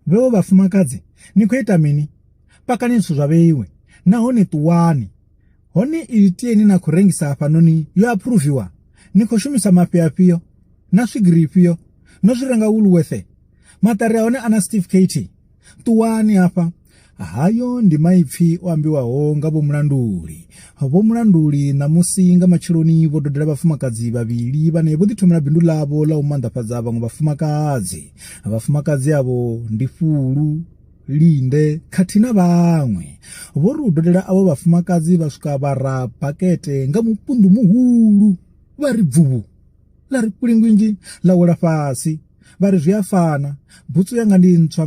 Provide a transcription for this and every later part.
Vheo vhafumakadzi ni khou ita mini? Pakani zwithu zwa vheiwe nahone ṱuwani. Hone ili tie ni na khou rengisa hafhanoni yo aphuruviwa? Ni khou shumisa mafhi afhio? Na swigiri ifhio? No zwi renga Woolworth? Maṱari a hone a na certificate? Ṱuwani hafha! Hayo ndi maipfi o ambiwaho nga vhomulanduli. Vhomulanduli ṋamusi nga matsheloni vho dodela vhafumakadzi vhavhili vhane vho ḓithomela bindu ḽavho ḽa u manḓafhadza vhaṅwe vhafumakadzi. Vhafumakadzi avho ndi Fulu, Linde khathihi na vhaṅwe. Vho ri u dodela avho vhafumakadzi vha swika vha ra bakete nga mupundu muhulu vha ri bvuvhu ḽa ri kulingwinzhi ḽa wela fhasi vha ri zwi a fana butsu yanga ndi ntswa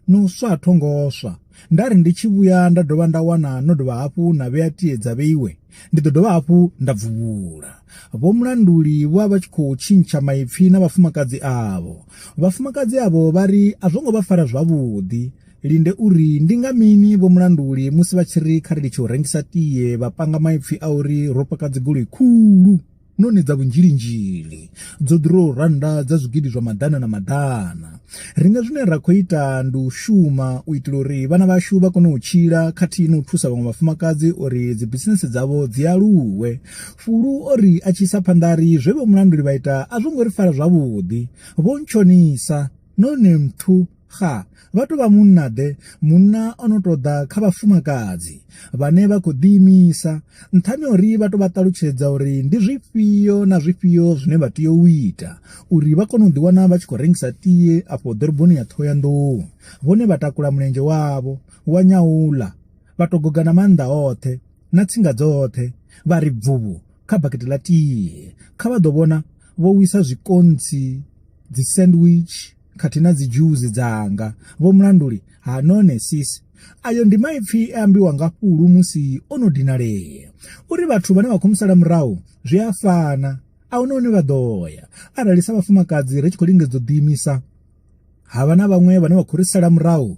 no swa tho ngo swa nda ri ndi tshi vhuya nda dovha nda wana no dovha hafhu na vhea tie dza vheiwe ndi ḓo dovha hafhu nda bvuvhula vho mulanduli vho vha tshi khou tshintsha maipfi na vhafumakadzi avho vhafumakadzi avho vha ri a zwo ngo vha fara zwavhuḓi linde uri ndi nga mini vho mulanduli musi vha tshi ri kha ri litshe u rengisa tie vha panga maipfi a uri ro paka dzigoloi khulu noni dza vhunzhilinzhili dzo ḓuraho rannda dza zwigidi zwa maḓana na maḓana. Ri nga zwine ra khou ita ndi u shuma u itela uri vhana vhashu vha kone u tshila khathihi na u thusa vhaṅwe vhafumakadzi uri dzibisinese dzavho dzi aluwe. Fulu o ri a tshi isa phanḓa a ri zwe vhomulanduli vha ita a zwo ngo ri fara zwavhuḓi, Vho Ntshonisa. none mthu xa vha tou vha munna-ḓe, munna o no tou ḓa kha vhafumakadzi vhane vha khou ḓiimisa, nṱhani ha uri vha tou vha ṱalutshedza uri ndi zwifhio na zwifhio zwine vha tea u ita uri vha kone u ḓiwana vha tshi khou rengisa tie afho ḓoroboni ya Ṱhohoyanḓou. Vhone vha takula mulenzhe wavho wa nyauḽa vha tou goga na maanḓa oṱhe. na tsinga dzoṱhe vha ri bvuvhu kha bakete ḽa tie kha vha ḓo vhona vho wisa zwikontsi dzi sandwich khathihi na dzi dzhuzi dzanga vho mulanduli ha none sis ayo ndi maipfi e ambiwa nga fhulu musi o no dinalea uri vhathu vhane vha khou musala murahu zwi a fana a huna hune vha ḓo ya arali sa vhafumakadzi ri tshi khou lingedza u ḓiimisa ha vha na vhaṅwe vhane vha khou ri sala murahu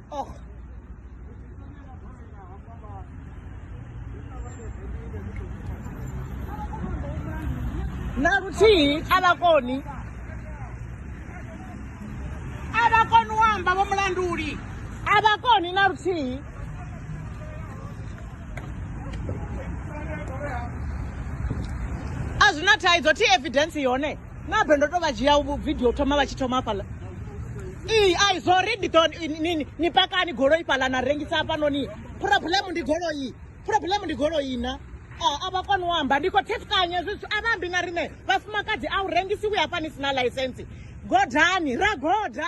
Oh. na luthihi a vha koni a vha koni u amba vho mulanduli a vha koni na luthihi a zwi na thaidzo thi evidence yone nabe ndo to vha dzhia vidio thoma vha tshi thoma hafhaḽa ii ai zori ndi ḓo nini ni pakani goloi fhaḽa na rengisa hafhanoni problem ndi goloi problem ndi goloi na a vha koni u amba ndi khou thefukanya zwithu a vha ambi na riṋe vhafumakadzi a u rengisiwi hafha ni si na ḽaisensi godani ra goda